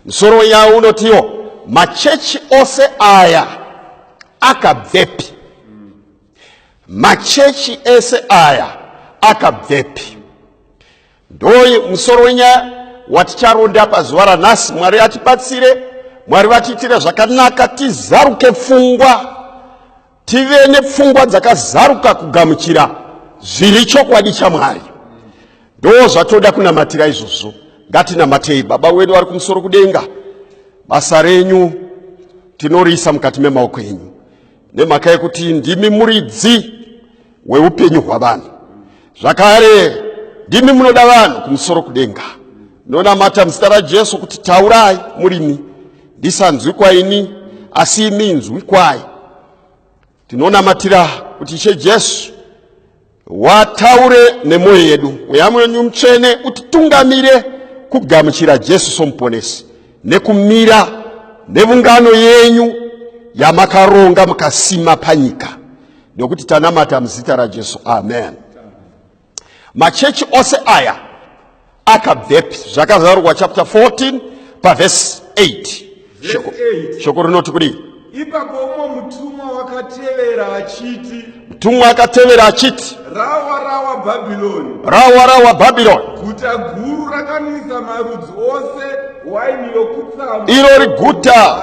Musoro wenyaya unotiwo machechi ose aya akabvepi? Machechi ese aya akabvepi? Ndoyi musoro wenyaya waticharonda pazuva ranhasi. Mwari atibatsire, Mwari vatiitire zvakanaka, tizaruke pfungwa. tive nepfungwa dzakazaruka kugamuchira zviri chokwadi chamwari ndo zvatoda kunamatira izvozvo ngatinamatei baba wedu vari kumusoro kudenga basa renyu tinoriisa mukati memaoko enyu nemhaka yekuti ndimi muridzi weupenyu hwavanhu zvakare ndimi munoda vanhu kumusoro kudenga ndonamata muzita rajesu kuti taurai murimi ndisanzwi kwaini asi imi nzwi kwai tinonamatira kuti ishe jesu wataure nemwoyo yedu mweya mwenyu mutsvene utitungamire kugamuchira jesu somuponesi nekumira nevungano yenyu yamakaronga mukasima panyika nekuti tanamata muzita rajesu amen machechi ose aya akabvepi zvakazarurwa chapter 14 pavhesi 8 shoko rinoti kudii Ipapo umwe mutumwa wakatevera achiti, mutumwa akatevera achiti, rawa rawa Bhabhironi, rawa rawa Bhabhironi, guta guru rakanwisa marudzi ose waini yokutsamwa, iro riguta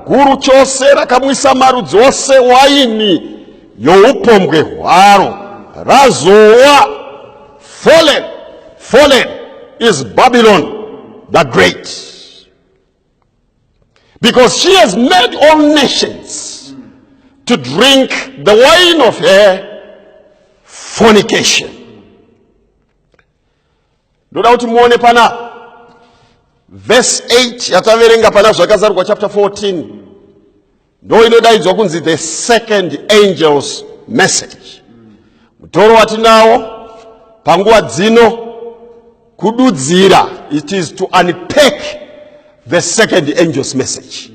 guru chose rakamwisa marudzi ose waini youpombwe hwaro, razowa fallen, fallen is Babylon the great. Because she has made all nations to drink the wine of her fornication. ndoda kuti muone pana verse 8 yataverenga pana zvakazarurwa chapter 14 ndo inodaidzwa kunzi the second angels message mutoro watinawo panguva dzino kududzira it is to unpack the second angels message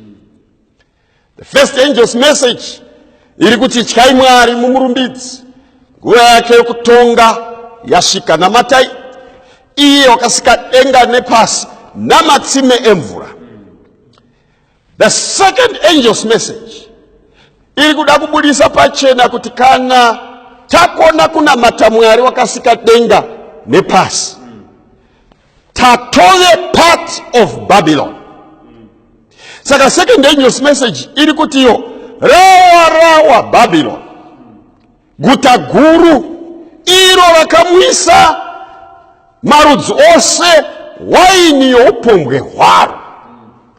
the first angels message iri kuti tyai mwari mumurumbidzi nguva yake yokutonga yasvika namatai iye wakasika denga nepasi namatsime emvura The second angel's message iri kuda kubudisa pachena kuti kana takona kunamata mwari wakasika denga nepasi tatove part of babylon saka second angel's message iri kutiyo rawa rawa babylon guta guru iro vakamuisa marudzi ose waini youpombwe hwaro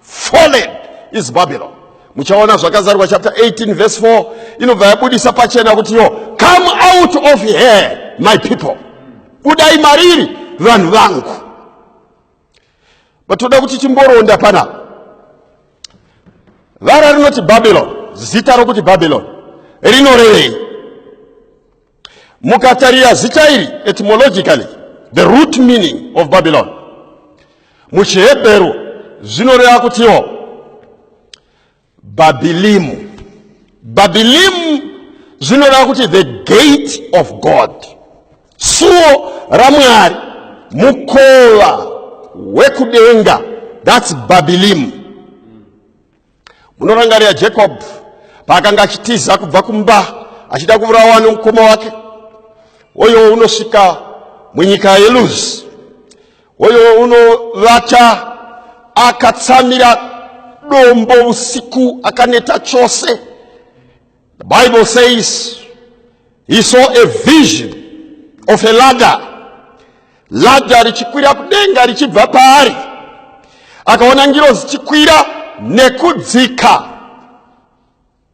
fallen is babylon muchaona zvakazarwa chapter 18 verse 4 inobva yabudisa pachena kuti yo come out of here my people budai mariri vanhu vangu batoda kuti timboronda pana vara rinoti babylon zita rokuti babylon rinorevei mukatarira zita iri etymologically the root meaning of babylon muchihebheru zvinoreva kutiwo Bhabilimu. Bhabilimu zvinoreva kuti the gate of God, suo raMwari, mukova wekudenga. That's Bhabilimu. Munorangarira Jacob paakanga achitiza kubva kumba achida kuvurawa nemukoma wake, oyo unosvika munyika yeLuzi Hoyo unovata akatsamira dombo usiku akaneta chose. The Bible says he saw a vision of a ladder. Ladder richikwira kudenga richibva paari. Akaona ngiro zichikwira nekudzika.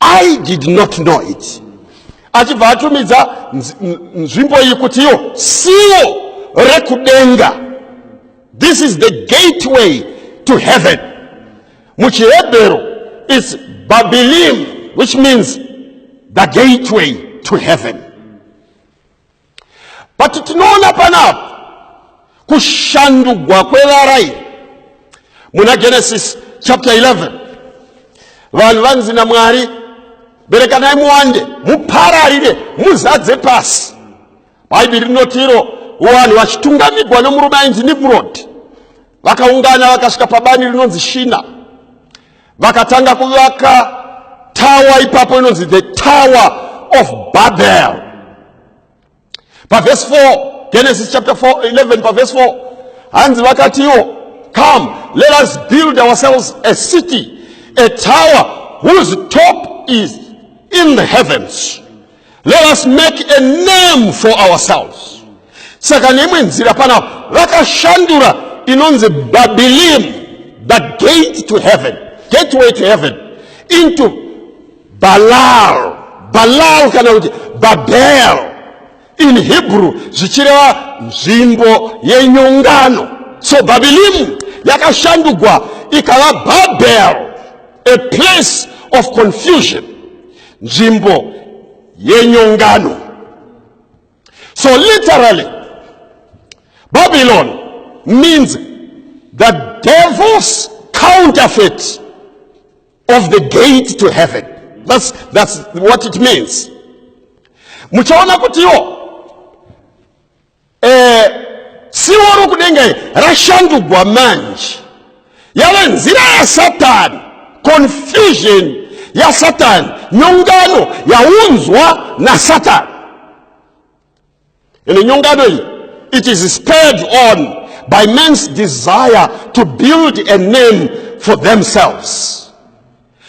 i did not know it achibva atumidza nzvimbo iyi kuti iyo siwo rekudenga this is the gateway to heaven muchihebheru its babilim which means the gateway to heaven but tinoona panapa kushandugwa kwevara iri muna genesis chapter 11 vanhu vanzi namwari berekanai muwande mupararire muzadze pasi bhaibheri rinoti iro vanhu vachitungamigwa nomurume ainzi nimrod vakaungana vakasvika pabani rinonzi shina vakatanga kuvaka tawa ipapo inonzi the tower of babel pavhesi 4 genesis chapter 4 11 pavhesi 4 hanzi vakatiwo come let us build ourselves a city a tower whose top is in the heavens Let us make a name for ourselves. Saka neimwe nzira pana vakashandura inonzi Babilim, the gate to heaven, gateway to heaven, into Balal, Balal kana kuti Babel in Hebrew zvichireva nzvimbo yenyongano. So Babilim yakashandugwa ikava Babel, a place of confusion. nzvimbo yenyongano so literally babylon means the devil's counterfeit of the gate to heaven that's, that's what it means muchaona kutiwo Eh, tsivo rokudenga iri rashandugwa manje yave nzira yasatani confusion yasatani nyongano yaunzwa nasatani ende nyongano iyi it is spurred on by man's desire to build a name for themselves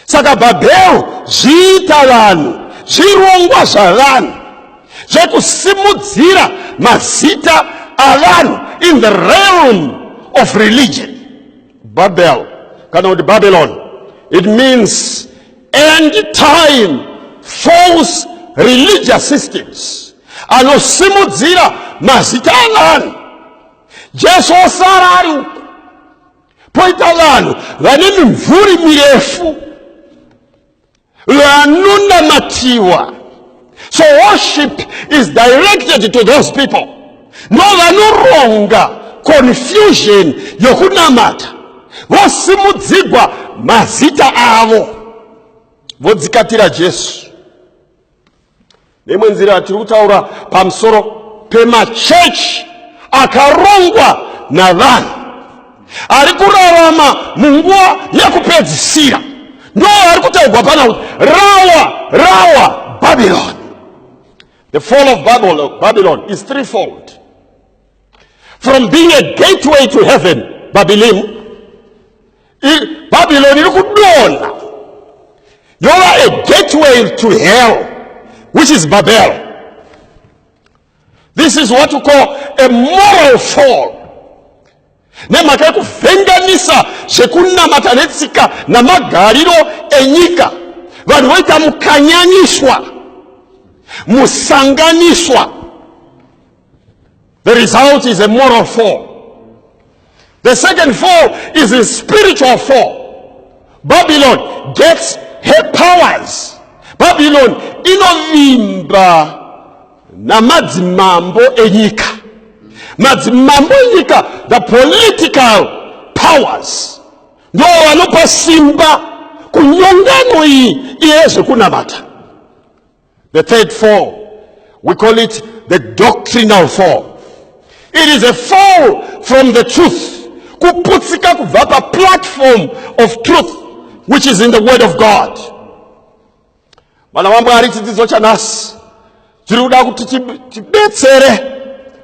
Saka Bhabhero zviita vanhu, zvirongwa zvavanhu zvekusimudzira mazita avanhu in the realm of religion. Babel kana kuti Babylon it means end time false religious systems anosimudzira mazita avanhu. Jesu osara ari uku poita vanhu vane mimvuri mirefu vanonamatiwa so worship is directed to those people no vanoronga confusion yokunamata vosimudzigwa mazita avo vodzikatira jesu neimwe nzira tiri kutaura pamusoro pemachechi akarongwa navanhu ari kurarama munguva yekupedzisira ndo ari kutaurwa pana kuti rawa rawa babylon the fall of babylon, babylon is threefold from being a gateway to heaven babylon bhabhiloni iri kudonha yova a gateway to hell which is babel this is what you call a moral fall nemhaka yekuvhenganisa zvekunamata netsika namagariro enyika vanhu voita mukanyaniswa musanganiswa The result is a moral fall. The second fall is a spiritual fall. Babylon gets her powers. Babylon inovimba namadzimambo enyika. Madzimambo enyika, the political powers, ndo vanopa simba kunyongano iyi iye zvekunamata. The third fall, we call it the doctrinal fall. It is a fall from the truth. Kuputsika kubva pa platform of truth which is in the word of God. Vana vaMwari chidzidzo chanhasi chiri kuda kuti tibetsere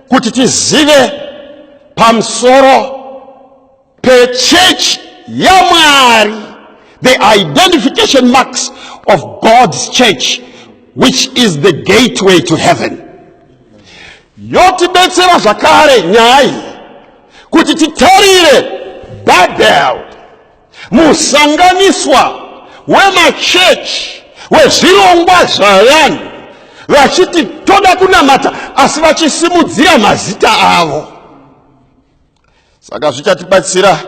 kuti tizive pamusoro pechechi yamwari the identification marks of god's church which is the gateway to heaven yotibetsera zvakare nyaya iyi kuti titarire babel musanganiswa wemachechi wezvirongwa zvavanhu vachiti toda kunamata asi vachisimudzira mazita avo saka zvichatibatsira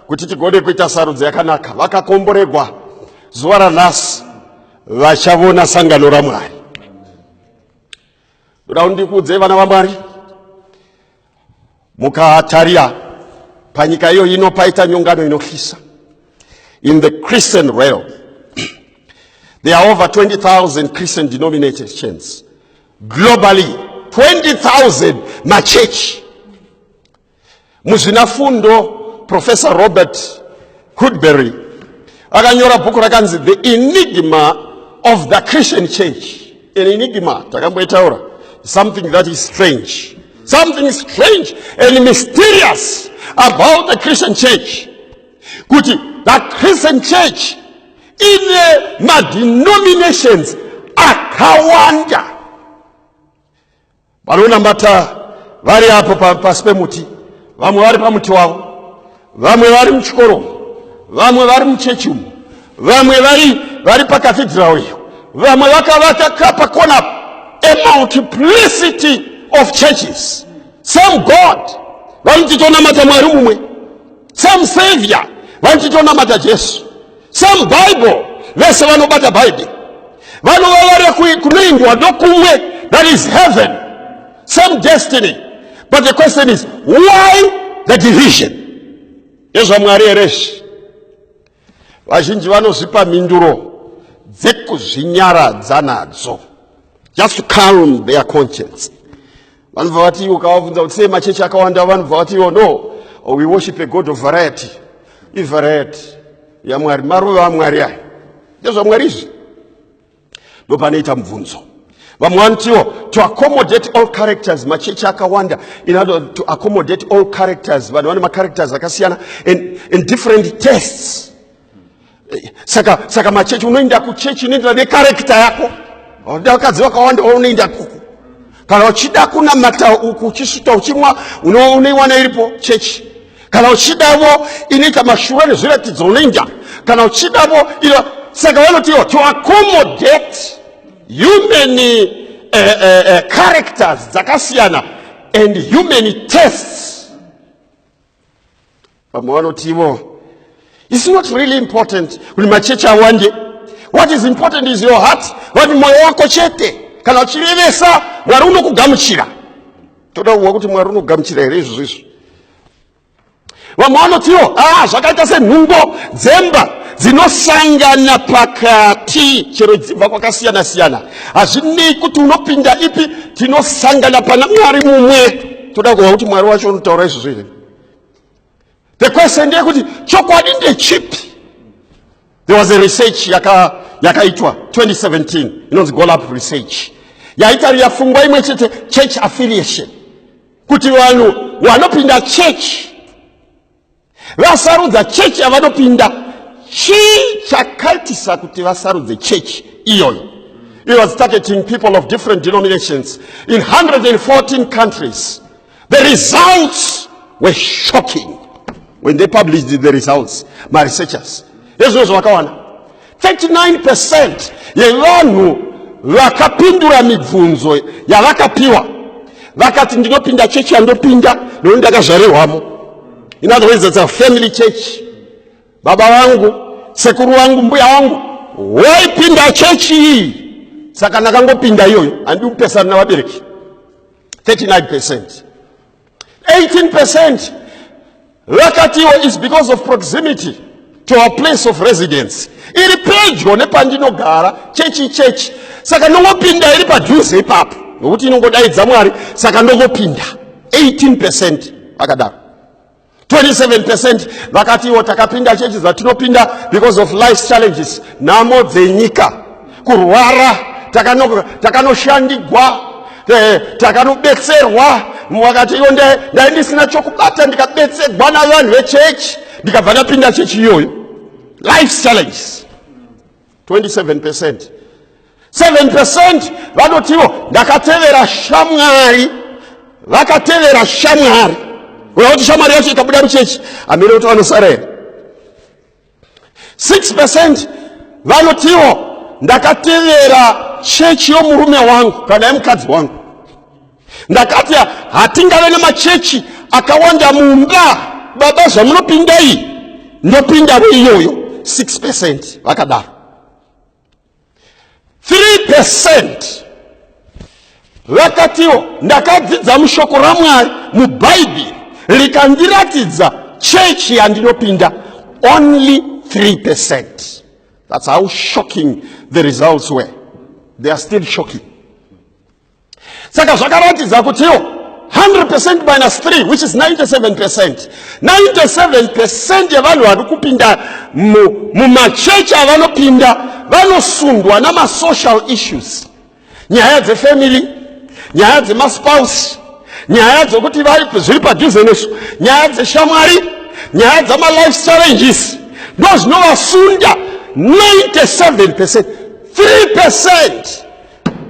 kuti tigone kuita sarudzo yakanaka vakakomboregwa zuva ranhasi vachavona sangano ramwari ndoda kundikuudzei vana vamwari mukatarira panyika iyo ino paita nyongano inotyisa in the christian realm there are over 20000 christian denominations globally 20000 machechi muzvinafundo professor robert hudberry akanyora bhuku rakanzi the enigma of the christian church an enigma takamboitaura something that is strange something strange and mysterious about the christian church kuti the christian church ine madenominations akawanda vanonamata vari apo pasi pemuti vamwe vari pamuti wavo vamwe vari muchikoro vamwe vari muchechi umu vamwe vari vari pakathidhirawo iyo vamwe vakavaka kapa kona a multiplicity of churches some god vanoti tonamata mwari mumwe same savior vanoti tonamata jesu same bible vese vanobata bhaibheri vanova vari kunoendwa nokumwe that is heaven same destiny but the question is why the division yezvamwari here izvi Vazhinji vanozvipa mhinduro dzekuzvinyaradza nadzo, just to calm their conscience. Vanobva vati iwo kavabvunza kuti sei machechi akawanda, vanobva vati iwo no, we worship a God of variety. Ivariety yaMwari, maruva aMwari aya, ndezvaMwari izvi. ndopanoita mubvunzo vamwe vanotiwo to accommodate all characters machechi akawanda in order to accommodate all characters vanhu vane macharacters akasiyana and, and different tests saka saka machechi unoenda kuchechi inoenderana necharacter yako vakadzi vakawanda unoenda kuku Kana uchida kunamata uku uchisuta uchimwa unoiwana iripo chechi. Kana uchidavo inoita mashura nezviratidzo unoinja. Kana uchidavo ino saka vanotiwo to accommodate human uh, uh, uh, characters dzakasiyana and human tests vamwe vanoti ivo It's not really important kuti machechi awande. What is important is your heart, vati mwoyo wako chete. Kana uchirevesa, Mwari unokugamuchira. Toda kuwa kuti Mwari unogamuchira here izvozvo izvo. Vamwe vanotiwo, ah, zvakaita senhungo dzemba dzinosangana pakati chero dzibva kwakasiyana siyana. Hazvinei kuti unopinda ipi, tinosangana pana Mwari mumwe. toda kuva kuti mwari wacho unotaura izvozvo here the question ndeyekuti chokwadi ndechipi there was a research yakaitwa yaka 2017 inonzi golap research yaitarira fungwa imwe chete church affiliation kuti vanhu vanopinda church vasarudza chechi yavanopinda chii chakaitisa kuti vasarudze chechi iyoyo it was targeting people of different denominations in 114 countries the results were shocking when they published the results maresearchers ezvino zvavakawana 39% yevanhu vakapindura mibvunzo yavakapiwa vakati ndinopinda chechi yandopinda nekuti ndakazvarirwamo in other words that's a family church baba vangu sekuru vangu mbuya vangu waipinda chechi iyi saka ndakangopinda iyoyo handikupesana navabereki 39 percent 18% vakatiwo is because of proximity to our place of residence iri pedyo nepandinogara chechi chechi saka ndongopinda iri padhuze ipapo nokuti inongodaidza mwari saka ndongopinda 18 percent vakadaro 27 percent vakati iwo takapinda chechi zvatinopinda because of life challenges nhamo dzenyika kurwara takanoshandigwa eh, takanobetserwa vakati iwo ndai ndisina chokubata ndikabetserwa navanhu vechechi ndikabva ndapinda chechi iyoyo life challenges 27 percent 7 percent vanotiwo ndakatevera shamwari vakatevera shamwari uya kuti shamwari yacho ikabuda muchechi amene kuti vanosara here 6 percent vanotiwo ndakatevera chechi yomurume wangu kana yemukadzi wangu ndakati hatingave nemachechi akawanda mumba baba zvamunopindei ndopindavo iyoyo 6 percent vakadaro 3 percent vakatiwo ndakadzidza mushoko ramwari mubhaibheri rikandiratidza chechi yandinopinda only 3 percent that's how shocking the results were they are still shocking saka zvakaratidza kutiwo 100 percent minus 3 which is 97 percent 97 percent yevanhu vari kupinda mumachechi avanopinda vanosundwa namasocial issues nyaya dzefamily nyaya dzemaspouse nyaya dzokuti zviri padhuze nesu nyaya dzeshamwari nyaya dzamalife challenges ndozvinovasunda 97 percent 3 percent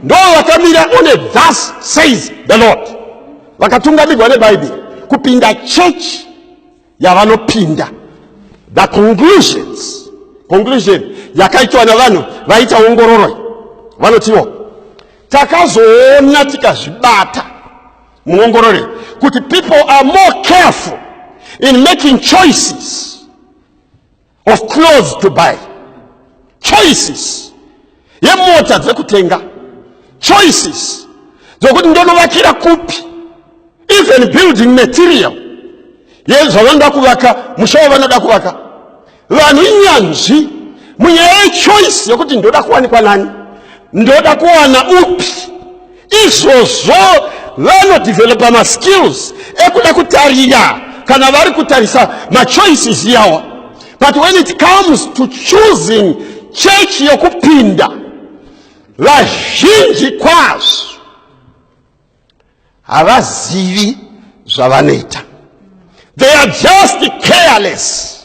ndo vakamira on a thus says the lord vakatungamirwa nebhaibheri kupinda chechi yavanopinda the conclusions conclusion yakaitwa navanhu vaita ongororo vanotiwo takazoona tikazvibata muongorore kuti people are more careful in making choices of clothes to buy choices yemota dzekutenga choices dzokuti ndonovakira kupi even building material yezvavanoda kuvaka musha wavanoda kuvaka vanhu inyanzvi munyaya yechoice yekuti ndoda kuwanikwa nani ndoda kuwana upi izvozvo vanodevelopa maskills ekuda kutarira kana vari kutarisa machoices yawa but when it comes to choosing church yokupinda vazhinji kwazvo havazivi zvavanoita they are just careless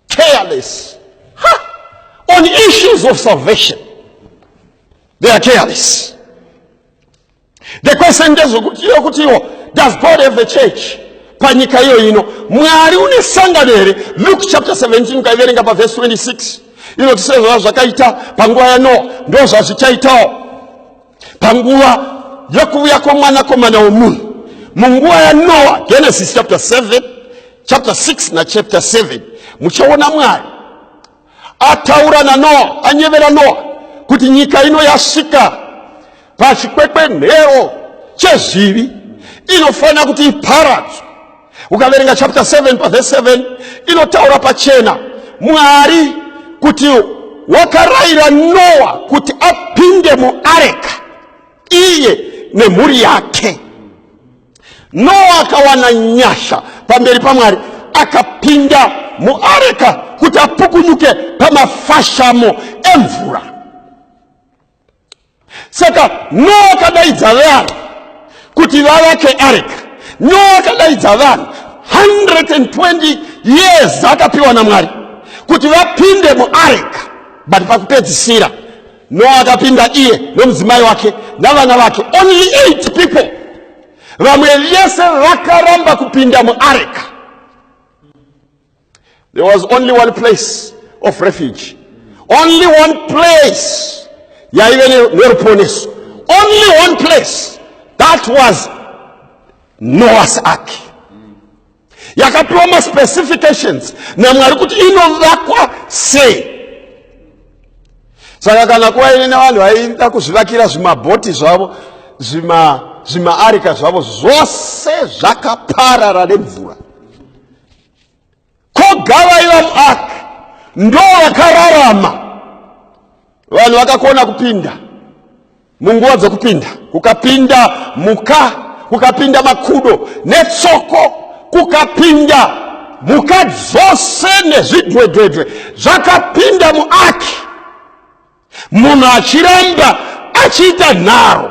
careless ha! on issues of salvation they are careless the question ndezvekuti iyo kuti iwo does god have a church panyika iyo ino mwari une sangano here luke chapter 17 ukaiverenga pavhesi 26 inoti sezvava zvakaita panguva yanoa ndo zvazvichaitawo panguva yokuuya kwomwanakomana womunhu munguva yanoa genesis chapter 7 chapter 6 nachapter 7 muchaona mwari ataura nanoa anyevera noa kuti nyika ino yasvika pachikwekwenhero chezvivi inofanira kuti iparadzwe ukaverenga chapter 7 pavhesi 7 inotaura pachena mwari kuti wakarayira noa kuti apinde muareka iye nemhuri yake Noa akawana nyasha pamberi paMwari, akapinda muareka kuti apukunyuke pamafashamo emvura. Saka Noa akadaidza vanhu kuti vavake areka. Noa akadaidza vanhu 120 years akapiwa naMwari kuti vapinde muareka, but pakupedzisira Noa akapinda iye nomudzimai wake navana vake, only eight people. Vamwe vese vakaramba kupinda muareka. There was only one place of refuge, only one place yaive neruponeso, only one place that was Noah's ark. yakapiwa maspecifications namwari kuti inovakwa sei saka kana kuva ine nevanhu vaida kuzvivakira zvimabhoti zvavo zvimaarika zvavo zvose zvakaparara nemvura kogavaiva muark ndo vakararama vanhu vakakona kupinda munguva dzokupinda kukapinda muka kukapinda makudo netsoko kukapinda muka dzose nezvidwedwedwe zvakapinda muaki munhu achiramba achiita nharo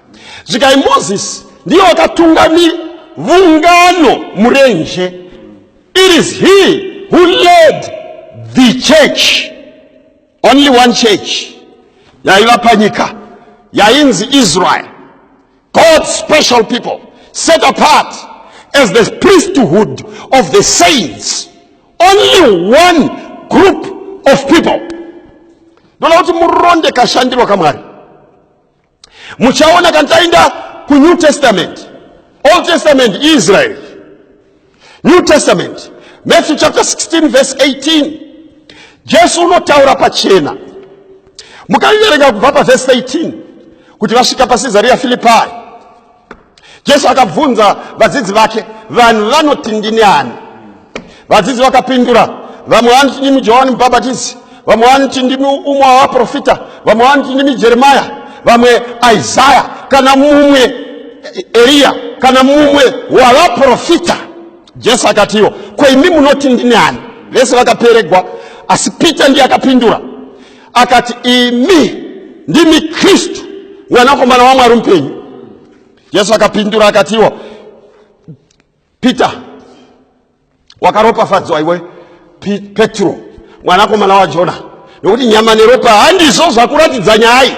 zvikai moses ndiye wakatungamira vungano murenje it is he who led the church only one church yaiva panyika yainzi israel god's special people set apart as the priesthood of the saints only one group of people ndoda kuti muronde kashandirwa kamwari muchaona kana taenda kunew testament old testament israel new testament matthew chapter 16 verse 18 jesu unotaura pachena mukaiverenga kubva pavhesi 18 kuti vasvika pacesaria filipai Jesu akabvunza vadzidzi vake, vanhu vanoti ndini ani? Vadzidzi vakapindura, vamwe vanoti ndimi Johani Mubhabhatidzi, vamwe vanoti ndimi umwe wavaprofita, vamwe vanoti ndimi Jeremaya, vamwe Isaya, kana mumwe Eriya, kana mumwe wavaprofita. Jesu akatiwo, ko imi munoti ndini ani? Vese vakaperegwa, asi Pita ndiye akapindura akati imi ndimi kristu mwanakomana wamwari mupenyu jesu akapindura akati iwo peter wakaropafadzwa iwe petro mwanakomana wajona nokuti nyama neropa handizvo zvakuratidza nyaya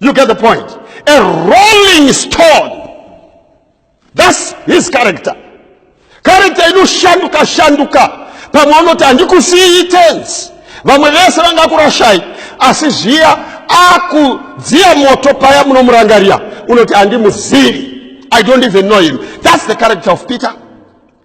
You get the point? A rolling stone. That's his character. Character inoshanduka shanduka. Pamwe anoti handikusiyi tense. Vamwe vese vangakurashai asi zviya akudziya moto paya munomurangarira unoti handimuzivi. I don't even know him. That's the character of Peter.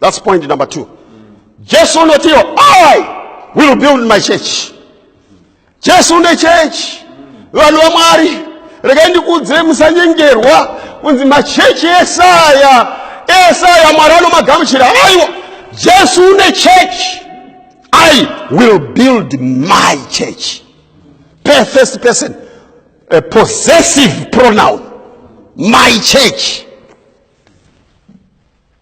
That's point number two. Jesu unotiwo I will build my church. Jesu une church. Vanhu vaMwari regai ndikuudzire musanyengerwa kunzi machechi esaya esaya Mwari anomagamuchira aiwa Jesu une church. I will build my church. First person, a possessive pronoun. My church.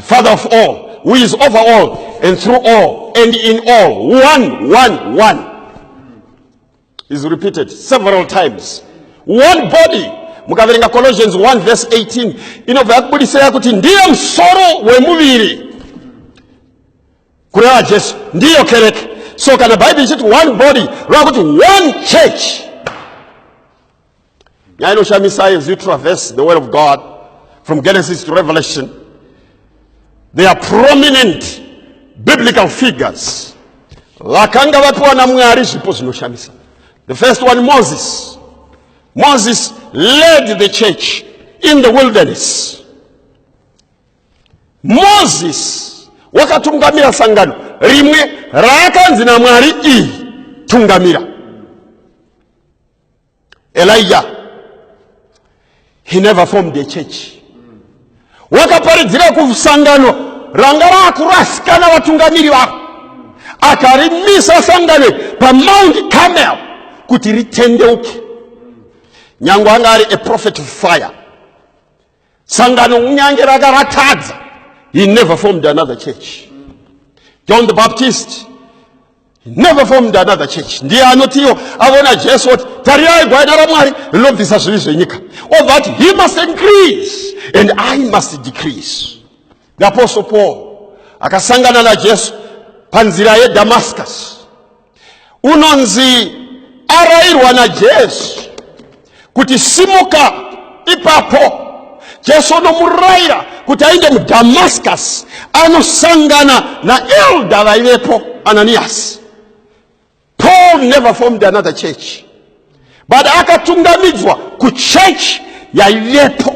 Father of all, who is over all and through all and in all. One, one, one. Is repeated several times. One body. Mukaverenga Colossians 1 verse 18 inobva yakubudisira kuti ndiye musoro wemuviri kureva Jesu ndiyo kereke. So kana Bible ichiti one body, rava kuti one church. nyaya inoshamisai as you traverse the word of god from genesis to revelation they are prominent biblical figures vakanga vapiwa namwari zvipo zvinoshamisa the first one moses moses led the church in the wilderness moses wakatungamira sangano rimwe raakanzi namwari iyi tungamira Elijah he never formed a church wakaparidzira kusangano ranga rakurasikana vatungamiri vako akarimisa sangano pamount camel kuti ritendeuke nyange anga ari a prophet of fire sangano kunyange raka ratadza he never formed another church john the baptist he never formed another church ndiye anotiwo avona jesu oti tarirai gwaina ramwari rinobvisa zvivi zvenyika obva ati he must increase and i must decrease The Apostle Paul akasangana naJesu panzira yeDamascus. Unonzi arairwa naJesu kuti simuka ipapo. Jesu anomuraira kuti aende muDamascus anosangana naelda vaivepo Ananias. Paul never formed another church but akatungamidzwa kuchechi yaivepo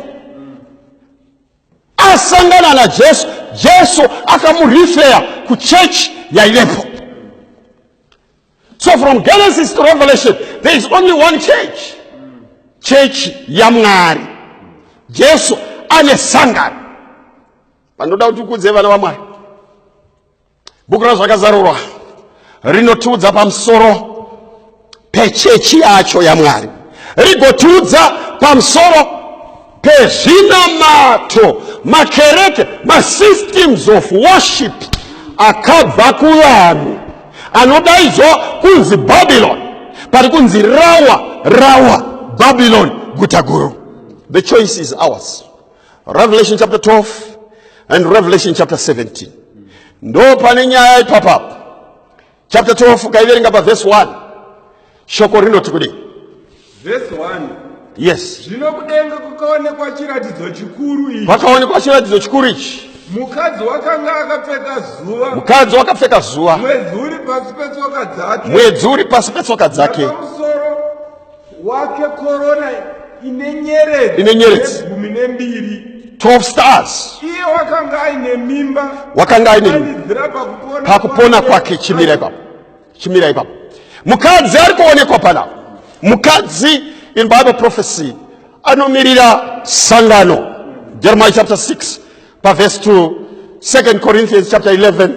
asangana najesu jesu akamurifeya kuchechi yaivepo so from genesis to revelation there is only one church chechi yamwari jesu ane sangano vanoda kuti ukudze vana vamwari Bhuku raZvakazarurwa rinotiudza pamusoro pechechi yacho yaMwari, rigotiudza pamusoro pezvinamato, makereke, masystems of worship akabva kuvanhu anodaidzwa kunzi Babylon, pari kunzi rawa rawa Babylon guta guru. The choice is ours. Revelation chapter 12 and Revelation chapter 17. Ndo pane nyaya ipapa. Chapter 12 kaiverenga pa verse 1. Shoko rinoti kudii? Verse 1. Yes. Zvino kudenga kukaonekwa chiratidzo chikuru ichi. Pakaonekwa chiratidzo chikuru ichi. Mukadzi wakanga akapfeka zuva. Mukadzi wakapfeka zuva. Mwedzi uri pasi petsoka dzake. Mwedzi uri pasi petsoka dzake. Pamusoro wake korona ine nyeredzi ine nyeredzi gumi nembiri 12 stars iye wakanga aine mimba wakanga aine mimba pakupona kwake chimira ipapo chimira ipapo mukadzi ari kuonekwa panapo mukadzi in bible prophecy anomirira sangano jeremiah chapter 6 pavhesi 2 2 corinthians chapter 11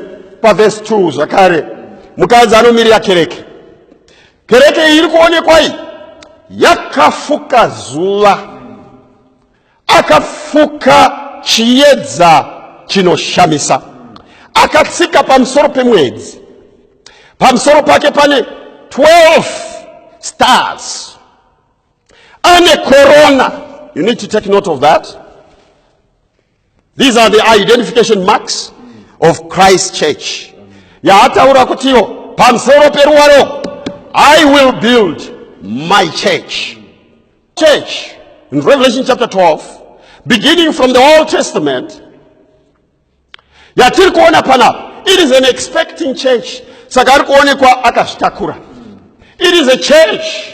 pavhesi 2 zvakare mukadzi anomirira kereke Kereke iyi iri kuonekwa iyi yakafuka zuva, akafuka chiedza chinoshamisa, akatsika pamusoro pemwedzi, pamusoro pake pane 12 stars, ane korona. You need to take note of that. These are the identification marks of Christ church. Yaataura kutiwo pamusoro peruwaro I will build my church. Church in Revelation chapter 12 beginning from the Old Testament yatiri kuona panapa it is an expecting church saka ari kuonekwa akazvitakura it is a church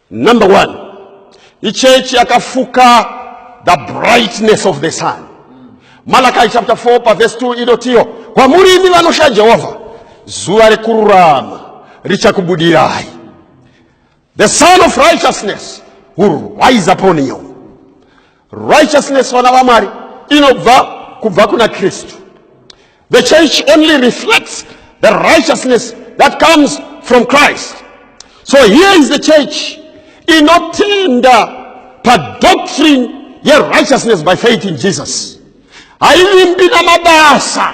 Number one, ichechi yakafuka the brightness of the sun. Malachi chapter 4 pa verse 2 inotiyo, kwamuri imi vanosha Jehovha, zuva rekururama richakubudirai. The sun of righteousness will rise upon you. Righteousness vana vamwari inobva kubva kuna Kristu. The church only reflects the righteousness that comes from Christ. So here is the church inotenda pa doctrine ye righteousness by faith in Jesus. Haivimbi na mabasa.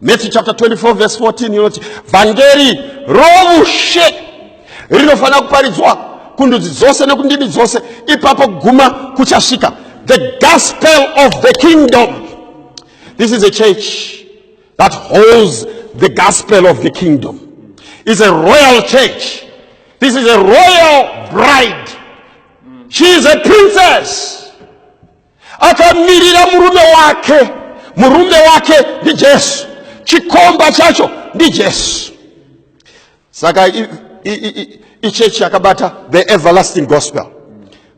Matthew chapter 24 verse 14 inoti vhangeri roushe rinofanira kuparidzwa kundudzi dzose nekundimi dzose ipapo kuguma kuchasvika the gospel of the kingdom this is a church that holds the gospel of the kingdom is a royal church this is a royal bride she is a princess akamirira murume wake murume wake ndijesu chikomba chacho ndijesu saka ichechi yakabata the everlasting gospel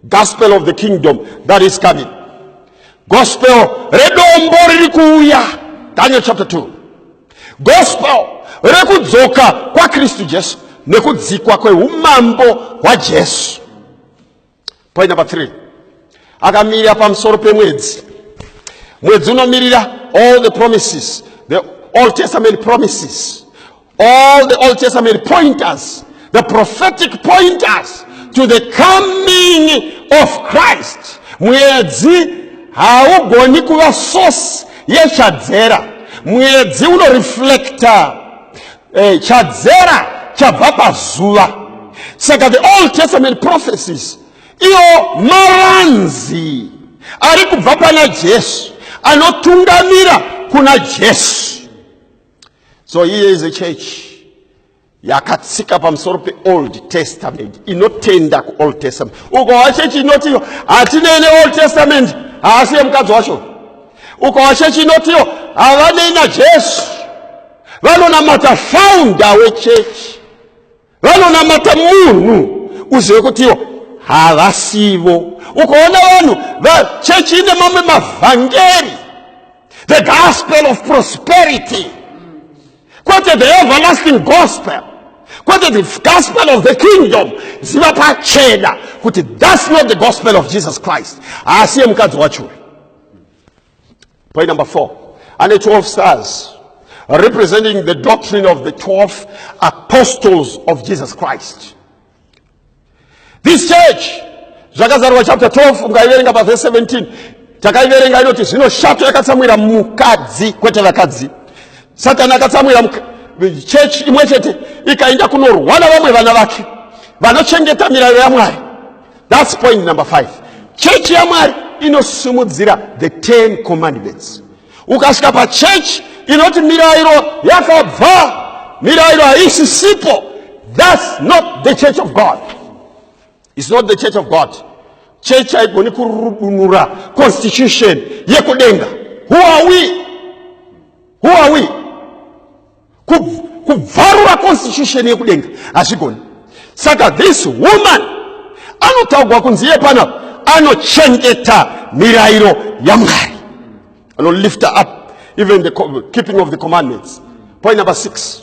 gospel of the kingdom that is coming gospel redombo riri kuuya daniel chapter 2 gospel rekudzoka kwakristu jesu nekudzikwa kweumambo hwajesu Point number three. Akamira pamusoro pemwedzi. Mwedzi unomirira all the promises, the Old Testament promises, all the Old Testament pointers, the prophetic pointers to the coming of Christ. Mwedzi haugoni kuva source yechadzera. Mwedzi unoreflecta Eh, chadzera chabva pazuva saka the old testament prophecies iwo maranzi ari kubva pana jesu anotungamira kuna jesu so here is a church yakatsika pamusoro peold testament inotenda kuold testament ukawa chechi inotiyo hatinei neold testament haasi yemukadzi wacho ukawa chechi inotiyo havanei najesu vanonamata faunda wechechi vanonamata munhu uzive kuti iwo havasivo ukaona vanhu vachechi ine mamwe mavhangeri the gospel of prosperity kwete the everlasting gospel kwete the gospel of the kingdom ziva pachena kuti thats not the gospel of jesus christ haasiye mukadzi wacho Point number four. And the 12 stars representing the doctrine of the 12 apostles of Jesus Christ. This church, zvakazarwa chapter 12 mukaiverenga pa verse 17 takaiverenga inoti zvino shato yakatsamwira mukadzi kwete vakadzi satani akatsamwira chechi imwe chete ikaenda kunorwa na vamwe vana vake vanochengeta mirayiro yamwari That's point number five. Chechi yaMwari inosimudzira the ten commandments. Ukasvika pachechi inoti mirairo yakabva, mirairo haisi sipo. That's not the church of God. It's not the church of God. Church haigoni kurudunura constitution yekudenga. Who are we? Who are we? kubvarura constitution yekudenga hazvigoni saka this woman anotaugwa kunzi iye panapa anochengeta mirayiro yamwari anolifter up even the keeping of the commandments point number six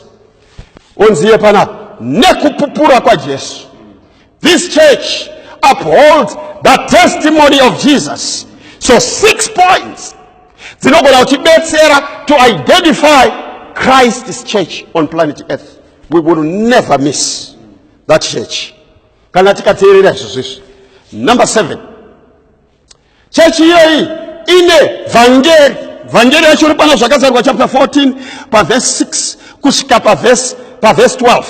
onzi iye panapa nekupupura kwajesu This church upholds the testimony of Jesus. So six points dzinogona kutibetsera to identify Christ's church on planet earth. We will never miss that church. Kana tikateerera izvozvo izvi. Number seven. Chechi iyoyi ine vhangeri, vhangeri yacho iri pana Zvakazarurwa chapter 14 pavhesi 6 kusvika pavhesi pavhesi 12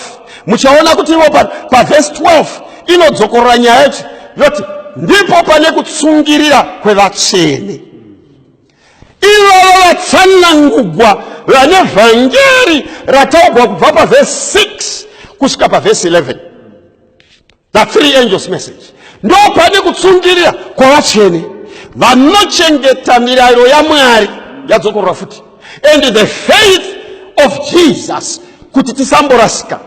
muchaona kuti ivo pavhesi 12 inodzokorora nyaya yacho yoti ndipo pane kutsungirira kwevatsvene ivava vatsanangugwa vane vhangeri rataugwa kubva pavhesi 6 kusvika pavhesi 11 The three angels message ndo pane kutsungirira kwavatsvene vanochengeta mirayiro yamwari yadzokorora futi and the faith of jesus kuti tisamborasika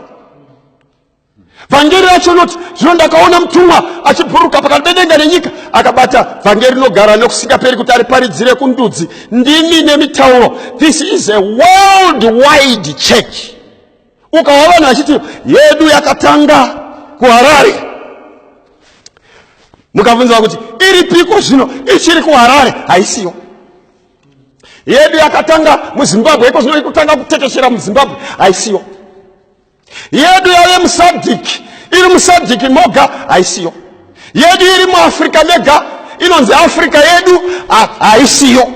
vhangeri racho noti zvino ndakaona mutumwa achibhuruka pakati pedenga nenyika akabata vhangeri rinogara nekusingaperi kuti ariparidzire kundudzi ndimi nemitauro this is a world wide church ukawa vanhu vachiti yedu yakatanga kuharare mukabvunziwa kuti iri piko zvino ichiri kuharare haisiyo yedu yakatanga muzimbabwe iko zvino ikutanga kutekeshera muzimbabwe haisiyo yedu yave musadhiki iri musadhiki moga haisiyo yedu iri muafrica mega inonzi africa yedu haisiyo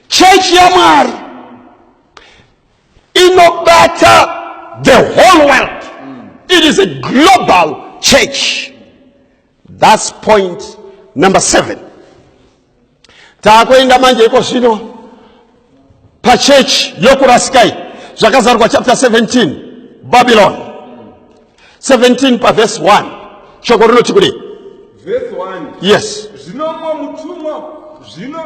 chechi yamwari inobata the whole world it is a global church thats point number seven taakuenda manje iko zvino pachechi yokurasikai zvakazarwa chapter 17 babylon 17 pavhesi 1 shoko rinoti kudei vhesi 1 yes zvino mumwe mutumwa zvino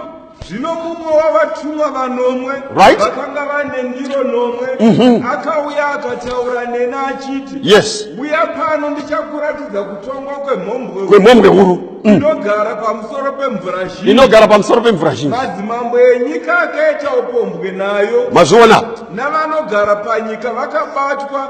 zvino mumwe wavatumwa vanomwe Right. vakanga vane ndiro nomwe Mhm. akauya akataura neni achiti Yes. uya pano ndichakuratidza kutongwa kwemhombwe kwemhombwe huru Mm. inogara pamusoro pemvura zhinji inogara pamusoro pemvura zhinji madzimambo enyika akaita upombwe nayo mazviona navanogara panyika vakabatwa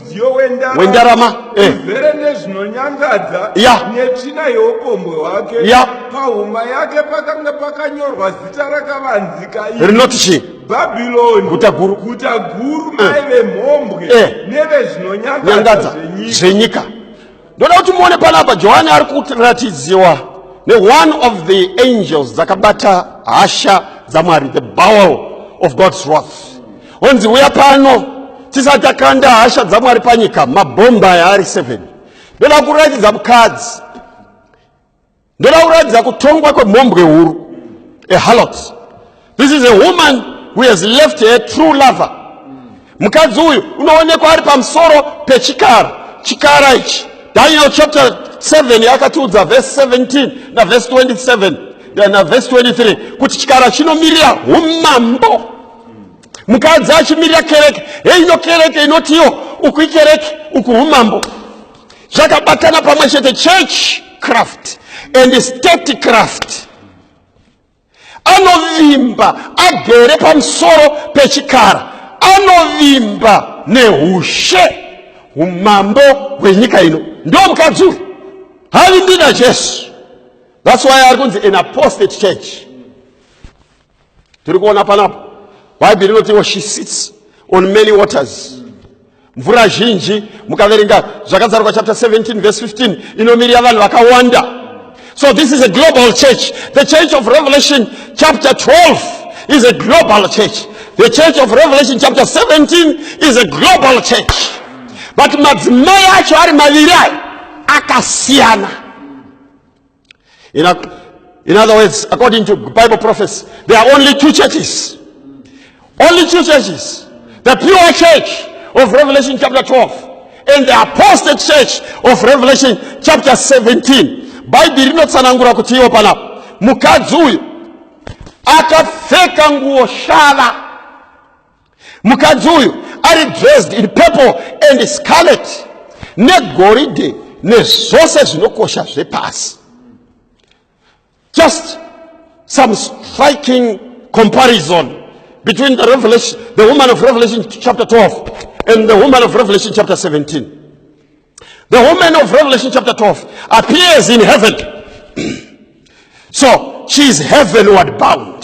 mudziyo wendarama eh. zvere nezvinonyangadza netsvina yeupombwe hwake pahuma yake pakanga pakanyorwa zita rakavanzika rinoti chii bhabhironi guta guru guta guru eh. mai vemhombwe eh. nevezvinonyangadza zvenyika ndoda kuti muone panapa johani ari kuratidziwa neone of the angels dzakabata hasha dzamwari the bowel of god's wrath onzi uya pano tisati takanda hasha dzamwari panyika mabhomba aya ari 7 ndoda kuratidza mukadzi Ndoda kuratidza kutongwa kwemhombwe huru. A harlot. This is a woman who has left her true lover. Mukadzi uyu unoonekwa ari pamusoro pechikara. Chikara ichi. Daniel chapter 7 yakatiudza verse 17 na verse 27 na verse 23 kuti chikara chinomirira umambo. Mukadzi achimirira kereke. Heino kereke inotiwo uku ikereke uku umambo. zvakabatana pamwe chete church craft and state craft anovimba agere pamusoro pechikara anovimba neushe umambo hwenyika ino ndo mukadzi uyu havimbi najesu thats why ari kunzi an apostate church tiri kuona panapa bhaibheri rinotiwo she sits on many waters mvura zhinji mukaverenga zvakazarwa chapter 17 verse 15 inomirira vanhu vakawanda so this is a global church the church of revelation chapter 12 is a global church the church of revelation chapter 17 is a global church but madzimai acho ari maviri ayo akasiyana In, a, in other words, according to Bible prophecy, there are only two churches. Only two churches. The pure church of Revelation chapter 12 and the apostate church of Revelation chapter 17. Bhaibheri rinotsanangura kuti iwo panapa mukadzi uyu akapfeka nguo shava mukadzi uyu ari dressed in purple and scarlet negoridhe nezvose zvinokosha zvepasi just some striking comparison between the revelation the woman of revelation chapter 12 and the woman of revelation chapter 17 the woman of revelation chapter 12 appears in heaven so she is heavenward bound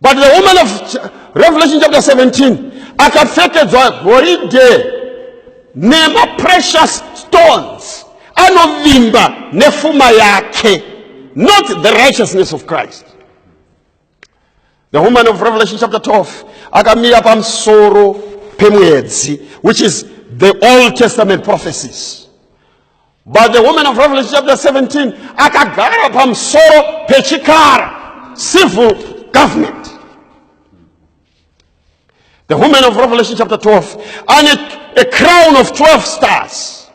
but the woman of revelation chapter 17 akapfekedzwa goridhe nemaprecious stones anovimba nefuma yake not the righteousness of christ the woman of revelation chapter 12 akamira pamusoro pemwedzi which is the old testament prophecies But the woman of Revelation chapter 17 akagara pamusoro pechikara civil government. The woman of Revelation chapter 12 and a, a crown of 12 stars.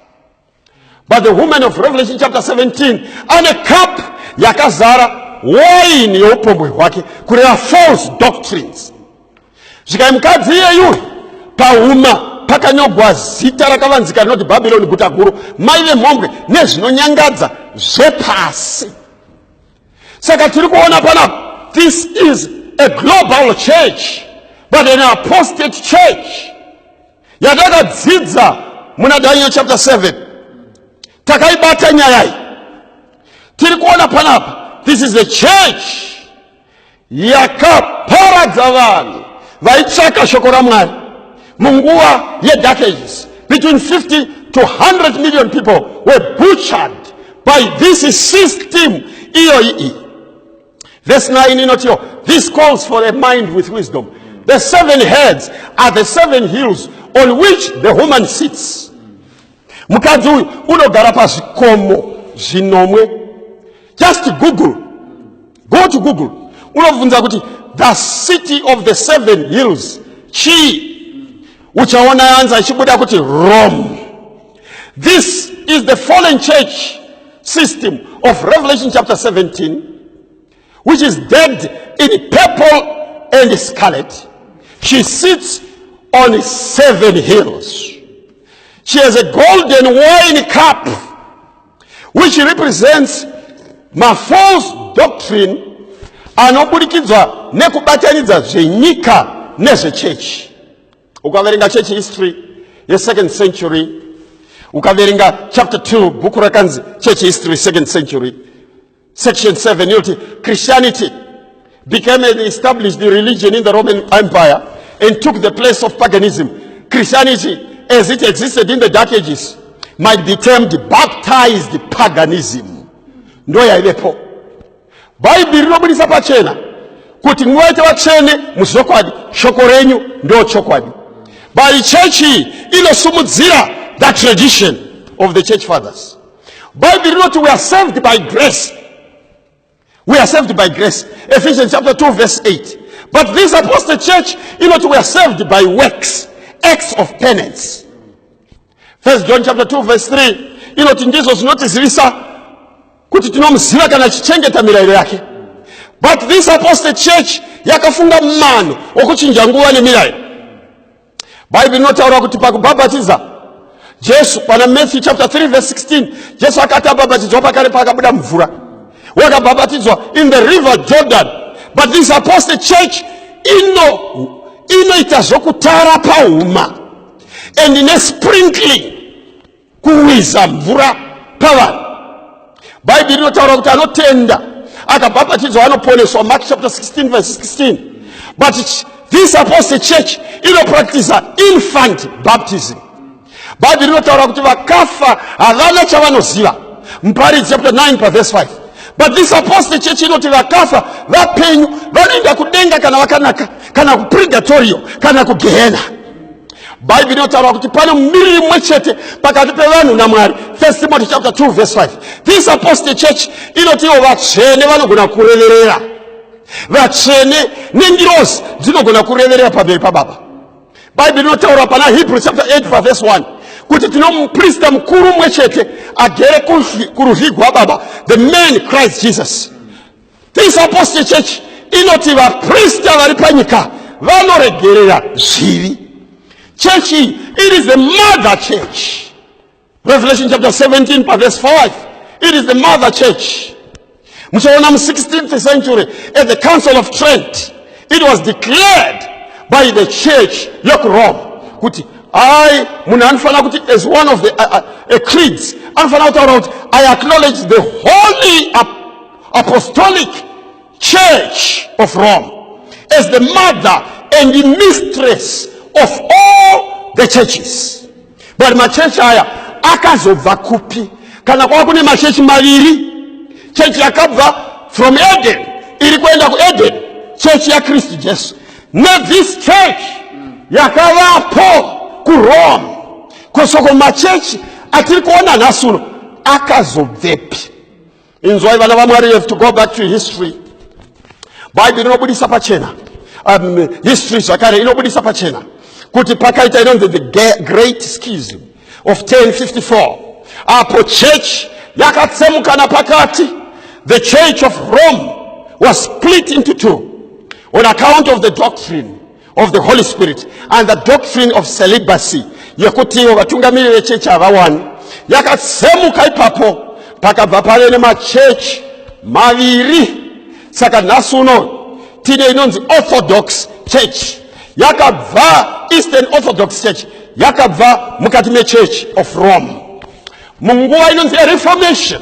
But the woman of Revelation chapter 17 and a cup yakazara wine yeupombwe hwake kureva false doctrines zvikai mukadzi iyeyu pahuma pakanyogwa zita rakavanzika rinoti bhabhironi guta guru mai vemhombwe nezvinonyangadza zvepasi saka tiri kuona panapa this is a global church but an apostate church yatakadzidza muna daniel chapter 7 takaibata nyaya iyi tiri kuona panapa this is a church yakaparadza vanhu vaitsvaka shoko ramwari munguva yedark ages between 50 to 100 million people were butchered by this system iyoyi iyi verse 9 inotiwo this calls for a mind with wisdom the seven heads are the seven hills on which the woman sits Mukadzi uyu unogara pazvikomo zvinomwe. Just Google. Go to Google. Unobvunza kuti the city of the seven hills chii? Uchaona yanza ichibuda kuti Rome. This is the fallen church system of Revelation chapter 17 which is decked in purple and scarlet. She sits on seven hills. She has a golden wine cup, which represents ma false doctrine anoburikidzwa nekubatanidza zvenyika nezvechechi ukaverenga church history yesecond century ukaverenga chapter 2 bhuku rakanzi church history second century Section 7 inoti Christianity became an established religion in the Roman Empire and took the place of paganism. Christianity, as it existed in the Dark Ages, might be termed baptized paganism. Ndo yaivepo. Bhaibheri rinobudisa pachena kuti muvaite vatsvene muzvokwadi, shoko renyu ndo chokwadi. But church inosumudzira the tradition of the church fathers. bhaibheri rinoti we are saved by grace we are saved by grace ephesians chapter 2 verse 8 but this apostle church inoti we are saved by works acts of penance first john chapter 2 verse 3 inoti ndizvo zvinotizivisa kuti tinomuziva kana tichichengeta mirayiro yake but this apostle church yakafunga mano okuchinja nguva nemirayiro bhaibheri rinotaura kuti pakubhabhatiza jesu pana matthew chapter 3 verse 16 jesu akati abhabhatidzwa pakare paakabuda mvura wakabhabhatidzwa in the river jordan but this apostle church ino inoita zvokutara pahuma and nesprinkling kuwiza mvura pavanhu bhaibheri rinotaura kuti anotenda akabhapatidzwa anoponeswa mark chapter 16 verse 16 but this apostle church inopractisa infant baptism bhaibheri rinotaura kuti vakafa havana chavanoziva muparidzi chapter 9 pavese 5 but this apostle church inoti vakafa vapenyu vanoenda kudenga kana vakanaka kana kupurgatorio kana kugehena bhaibheri inotaura kuti pane mumiriri mumwe chete pakati pevanhu namwari first timothy chapter 2 verse 5 this apostle church inoti ivo vatsvene vanogona kureverera vatsvene nengirozi dzinogona kureverera pamberi pababa bhaibheri rinotaura pana hebrew chapter 8 vavhesi 1 kuti tino muprista mukuru umwe chete agere kuruzvi gwababa the man christ jesus This apostle church inoti vaprista vari panyika vanoregerera zvivi chechi iyi it is the mother church revelation chapter 17 paverse 5 it is the mother church muchaona mu 16th century at the council of trent it was declared by the church yokurome kuti ai munhu anofanira kuti as one of the uh, uh, creeds anofanira kutaura kuti i acknowledge the holy apostolic church of rome as the mother and the mistress of all the churches but machechi aya akazobva kupi kana kwava kune machechi maviri chechi yakabva from eden iri kuenda kueden chechi yakristu jesu nethis church yakavapo kurome kosoko machechi atiri kuona nhasi uno akazobvepi inzwai vana vamwari you have to go back to history bhaibheri inobudisa pachena um, history zvakare inobudisa pachena kuti pakaita inonzi the great schism of 1054 apo church yakatsemukana pakati the church of rome was split into two on account of the doctrine of the holy spirit and the doctrine of celibacy yekuti ivo vatungamiri vechechi havawani yakatsemuka ipapo pakabva pave nemachechi maviri saka nhasi uno tine inonzi orthodox church yakabva eastern orthodox church yakabva mukati mechurch of rome munguva inonzi yereformation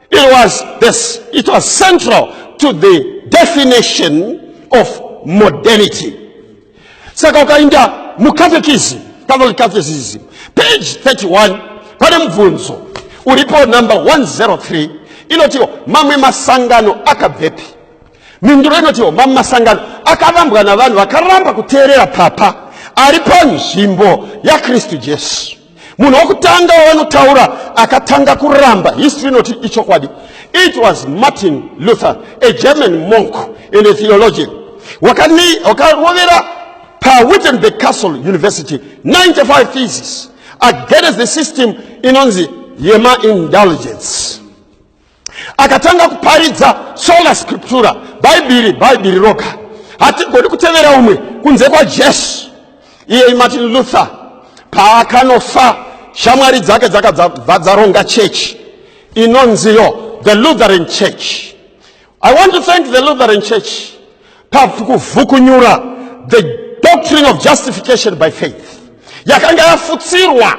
It was this, it was central to the definition of modernity. Saka ukainda mukatekisi, Catholic Catechism, page 31, pane mubvunzo uripo number 103 inotiwo mamwe masangano akabvepi? Mhinduro inotiwo mamwe masangano akavambwa navanhu vakaramba kuteerera papa ari panzvimbo yaKristu Jesu. munhu wokutanga wavanotaura akatanga kuramba history inoti ichokwadi it was martin luther a german monk and a theologian wakarovera pawittenberg castle university 95 thesis against the system inonzi yemaindulgence akatanga kuparidza sola scriptura bhaibhiri bhaibhiri roga hatigoni kutevera umwe kunze kwajesu iyei martin luther paakanofa shamwari dzake dzakabva dzaronga chechi inonziyo the lutheran church I want to thank the Lutheran Church pakuvhukunyura the doctrine of justification by faith yakanga yafutsirwa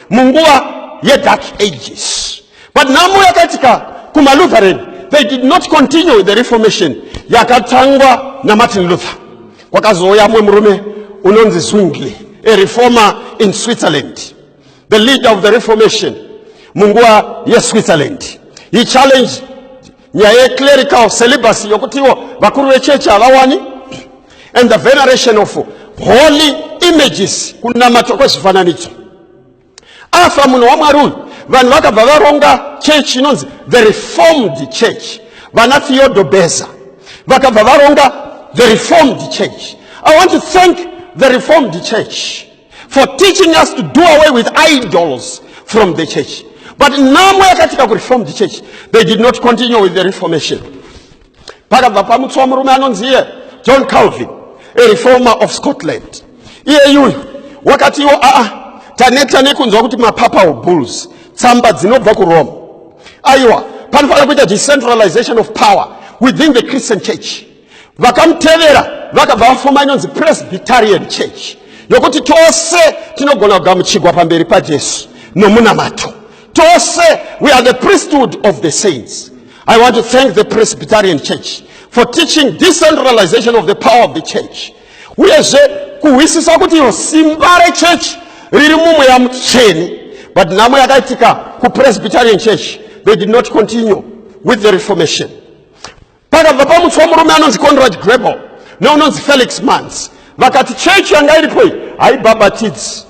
munguva yedark ages but nhamo yakaitika kumalutheran they did not continue with the reformation yakatangwa namartin luther kwakazouya mumwe murume unonzi zwingli a reformer in switzerland the leader of the reformation munguva yeswitzerland he challenged nyaya yeclerical celibacy yokutiwo vakuru vechechi havawani and the veneration of holy images kunamatwa kwezvifananidzo afa munhu wamwari uyu vanhu vakabva varonga chechi inonzi the reformed church vana theodo beza vakabva varonga the reformed church i want to thank the reformed church for teaching us to do away with idols from the church but nhamo yakatika kureformed church they did not continue with the reformation pakabva pamutswa murume anonzi iye john calvin a reformer of scotland iyeyuyu wakatiwo aa taneta nekunzwa kuti mapapa obulls tsamba dzinobva kurome aiwa panofanira kuita decentralization of power within the christian church vakamutevera vakabva vafuma inonzi presbyterian church yokuti tose tinogona kugamuchigwa pamberi pajesu nomunamato tose we are the priesthood of the saints i want to thank the presbyterian church for teaching decentralization of the power of the church uyezve kuhwisisa kuti iyo simba rechechi riri mumweya mutsvene but nhamo yakaitika kupresbyterian church they did not continue with the reformation Pakabva pamutswa murume anonzi Conrad Grebel neunonzi Felix Manz vakati chechi yanga iripo iyi haibhabhatidzi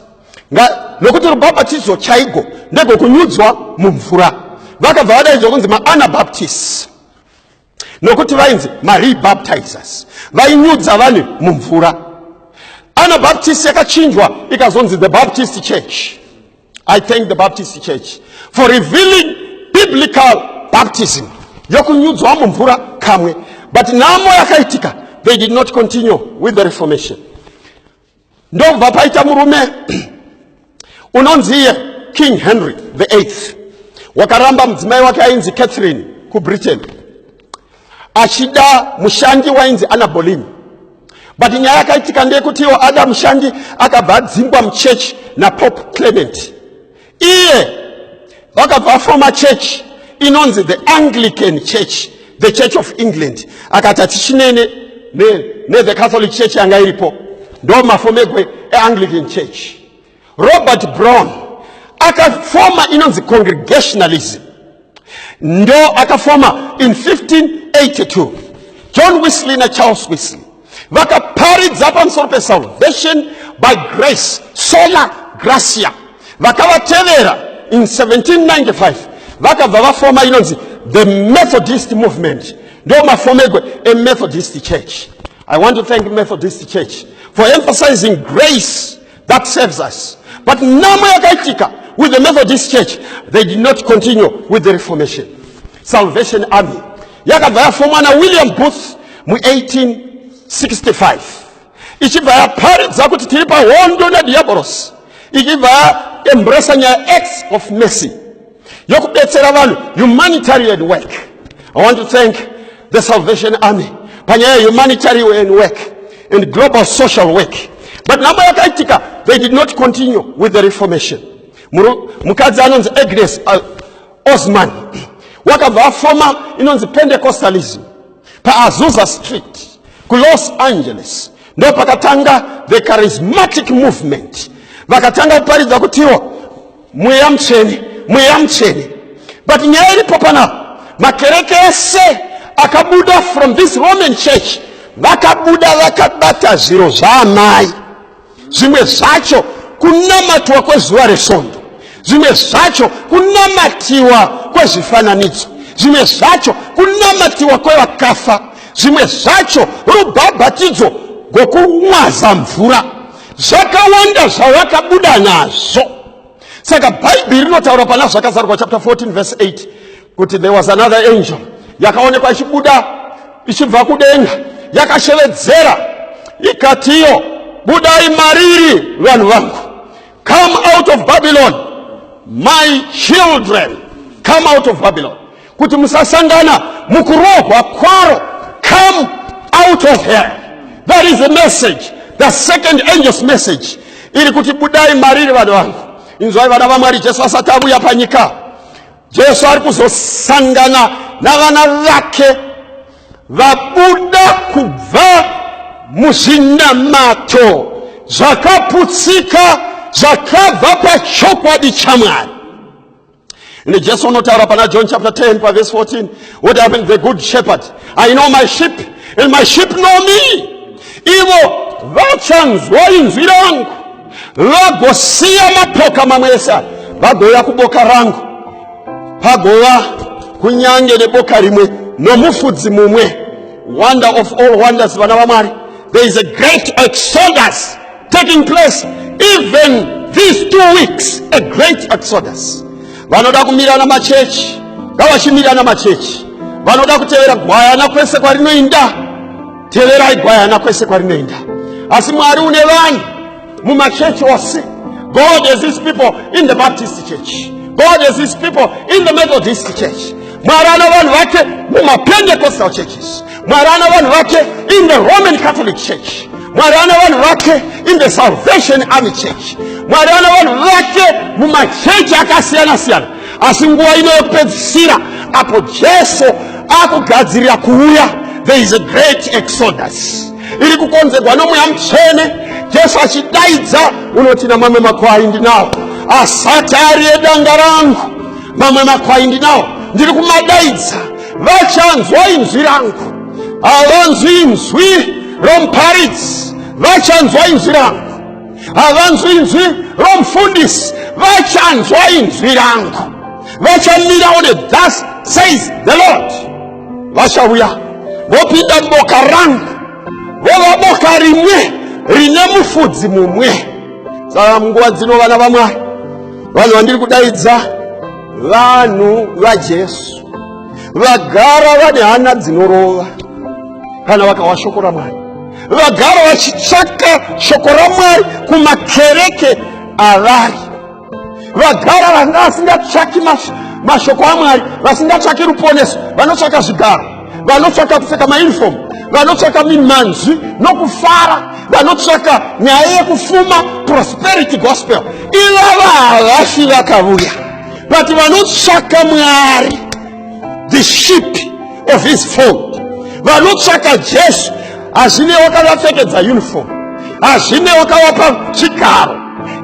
nokuti rubhabhatidzo chaigo ndegokunyudzwa mumvura vakabva vadaidzwa kunzi maanabaptist nokuti vainzi marebaptizers vainyudza vanhu mumvura anabaptist yakachinjwa ikazonzi the baptist church I thank the Baptist Church for revealing biblical baptism yokunyudzwa mumvura kamwe but nhamo yakaitika they did not continue with the reformation ndobva paita murume unonziye king henry the eighth wakaramba mudzimai wake ainzi catherine kubritain achida mushandi wainzi anabolini but nyaya yakaitika ndeyekuti iwo ada mushandi akabva adzingwa muchechi napope clement iye vakabva afoma chechi inonzi the anglican church the church of england akati hatichinene nethe ne catholic church yanga iripo ndo mafomegwe eanglican church robert brown akafoma inonzi congregationalism ndo akafoma in 1582 john wesley nacharles wesley vakaparidza pamusoro pesalvation by grace sola gracia vakavatevera in 1795 vakabva vafoma inonzi the methodist movement ndo mafomegwe emethodist church i want to thank methodist church for emphasizing grace that saves us but nhamo yakaitika with the methodist church they did not continue with the reformation salvation army yakabva yafomwa nawilliam booth mu1865 ichibva yaparidza kuti tiri pahondo nadhiyabhorosi ichibva yaembresa nyaya acts of mercy yokubetsera vanhu humanitarian work i want to thank the salvation army panyaya yehumanitarian work and global social work but nhamo yakaitika they did not continue with the reformation mukadzi anonzi agnes uh, osman wakabva afoma inonzi pentecostalism paazusa street kulos angeles ndo pakatanga the charismatic movement vakatanga kuparidza kutiwo mweya mutsvene mweya mutsvene but nyaya iripo panapa makereke ese akabuda from this roman church vakabuda vakabata zviro zvaamai zvimwe zvacho kunamatwa kwezuva resvondo zvimwe zvacho kunamatiwa kwezvifananidzo zvimwe zvacho kunamatiwa kwevakafa zvimwe zvacho rubhabhatidzo gokumwaza mvura zvakawanda zvavakabuda nazvo saka bhaibheri rinotaura pana zvakazarwa chapter 14 verse 8 kuti there was another angel yakaonekwa ichibuda ichibva kudenga yakashevedzera ikatiyo budai mariri vanhu vangu come out of babylon my children come out of babylon kuti musasangana mukurohwa kwaro come out of here that is the message the second angels message iri kuti budai mariri vana vangu inzwai vana vamwari jesu asati avuya panyika jesu ari kuzosangana navana vake vabuda kubva muzvinamato zvakaputsika zvakabva pachokwadi chamwari Ende Jesu unotaura pana John chapter 10 paverse 14 what happened the good shepherd I know my sheep and my sheep know me ivo vachanzwa inzwi rangu vagosiya mapoka mamwe ese aya vagouya kuboka rangu pagova kunyange neboka rimwe nomufudzi mumwe wonder of all wonders vana vamwari there is a great exodus taking place even these two weeks a great exodus vanoda kumirana machechi ngavachimirana machechi vanoda kutevera gwayana kwese kwarinoinda teverai gwayana kwese kwarinoinda asi mwari une vanhu mumachechi ose god has his people in the baptist church god has his people in the methodist church mwari ana vanhu vake mumapentecostal churches mwari ana vanhu vake in the roman catholic church mwari ana vanhu vake in the salvation army church mwari ana vanhu vake mumachechi akasiyana siyana asi nguva ino yekupedzisira apo jesu akugadzirira kuuya there is a great exodus iri kukonzerwa nomweya mutsvene jesu achidaidza unoti namamwe makwai ndinawo asati ari edanga rangu mamwe makwai ndinawo ndiri kumadaidza vachanzwa inzwi rangu havanzwi inzwi romuparidzi vachanzwa inzwi rangu havanzwi inzwi romufundisi vachanzwa inzwi rangu vachamirawo nethus says the lord vachauya vopinda muboka rangu vova boka rimwe rine mufudzi mumwe saka munguva dzino vana vamwari vanhu vandiri kudaidza vanhu vajesu vagara vane hana dzinorova kana vakawa shoko ramwari vagara vachitsvaka shoko ramwari kumakereke avari vagara vanga vasingatsvaki mashoko amwari vasingatsvaki ruponeso vanotsvaka zvigaro vanotsvaka kupfeka maunifomu vanotsvaka mimanzwi nokufara vanotsvaka nyaya yekufuma prosperity gospel ivava havafi vakavuya but vanotsvaka mwari the ship of his fold vanotsvaka jesu hazvine wakavapfekedza uniform hazvine wakavapa chigaro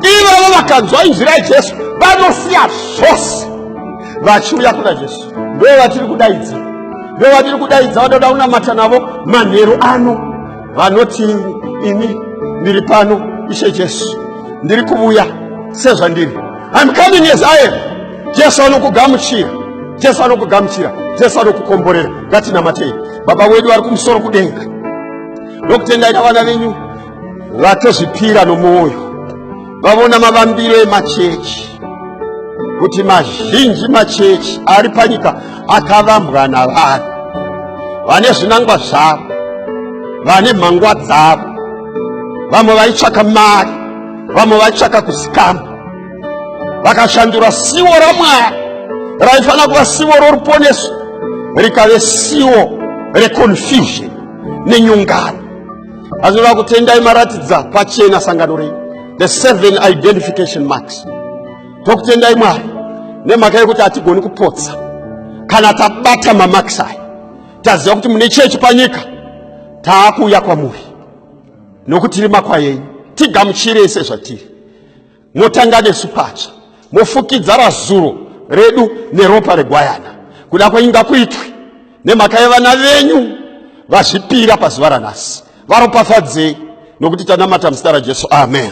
ivavo vakanzwa inzwi rajesu vanosiya zvose vachiuya kuna jesu ndo vatiri kudaidza ndo vatiri kudaidza vanoda kunamata navo manheru ano vanoti ini ndiri pano ishe jesu ndiri kuvuya sezvandiri im coming as i am jesu anokugamuchira jesu anokugamuchira jesu anokukomborera ngatinamatei baba wedu vari kumusoro kudenga ndokutendaina vana venyu vatozvipira nomwoyo vavona mavambiro emachechi kuti mazhinji machechi ari panyika akavambwa navanhu vane zvinangwa zvavo vane mhangwa dzavo vamwe vaitsvaka mari vamwe vaitsvaka kuzikama vakashandura siwo ramwari raifanira kuva siwo roruponeso rikave siwo reconfusion nenyungano Azvinoda kutendai maratidza pachena sangano renyu the seven identification marks tokutendai mwari nemhaka yekuti hatigoni kupotsa kana tabata mamakisi aya taziva kuti mune chechi panyika taakuuya kwamuri nokuti rima kwayenyu tigamuchirei sezvatiri motanga nesu patsva mofukidza razuro redu neropa regwayana kuda kwenyu ngakuitwe nemhaka yevana venyu vazvipira pazuva ranhasi varopafadzei nokuti tanamata muzita rajesu amen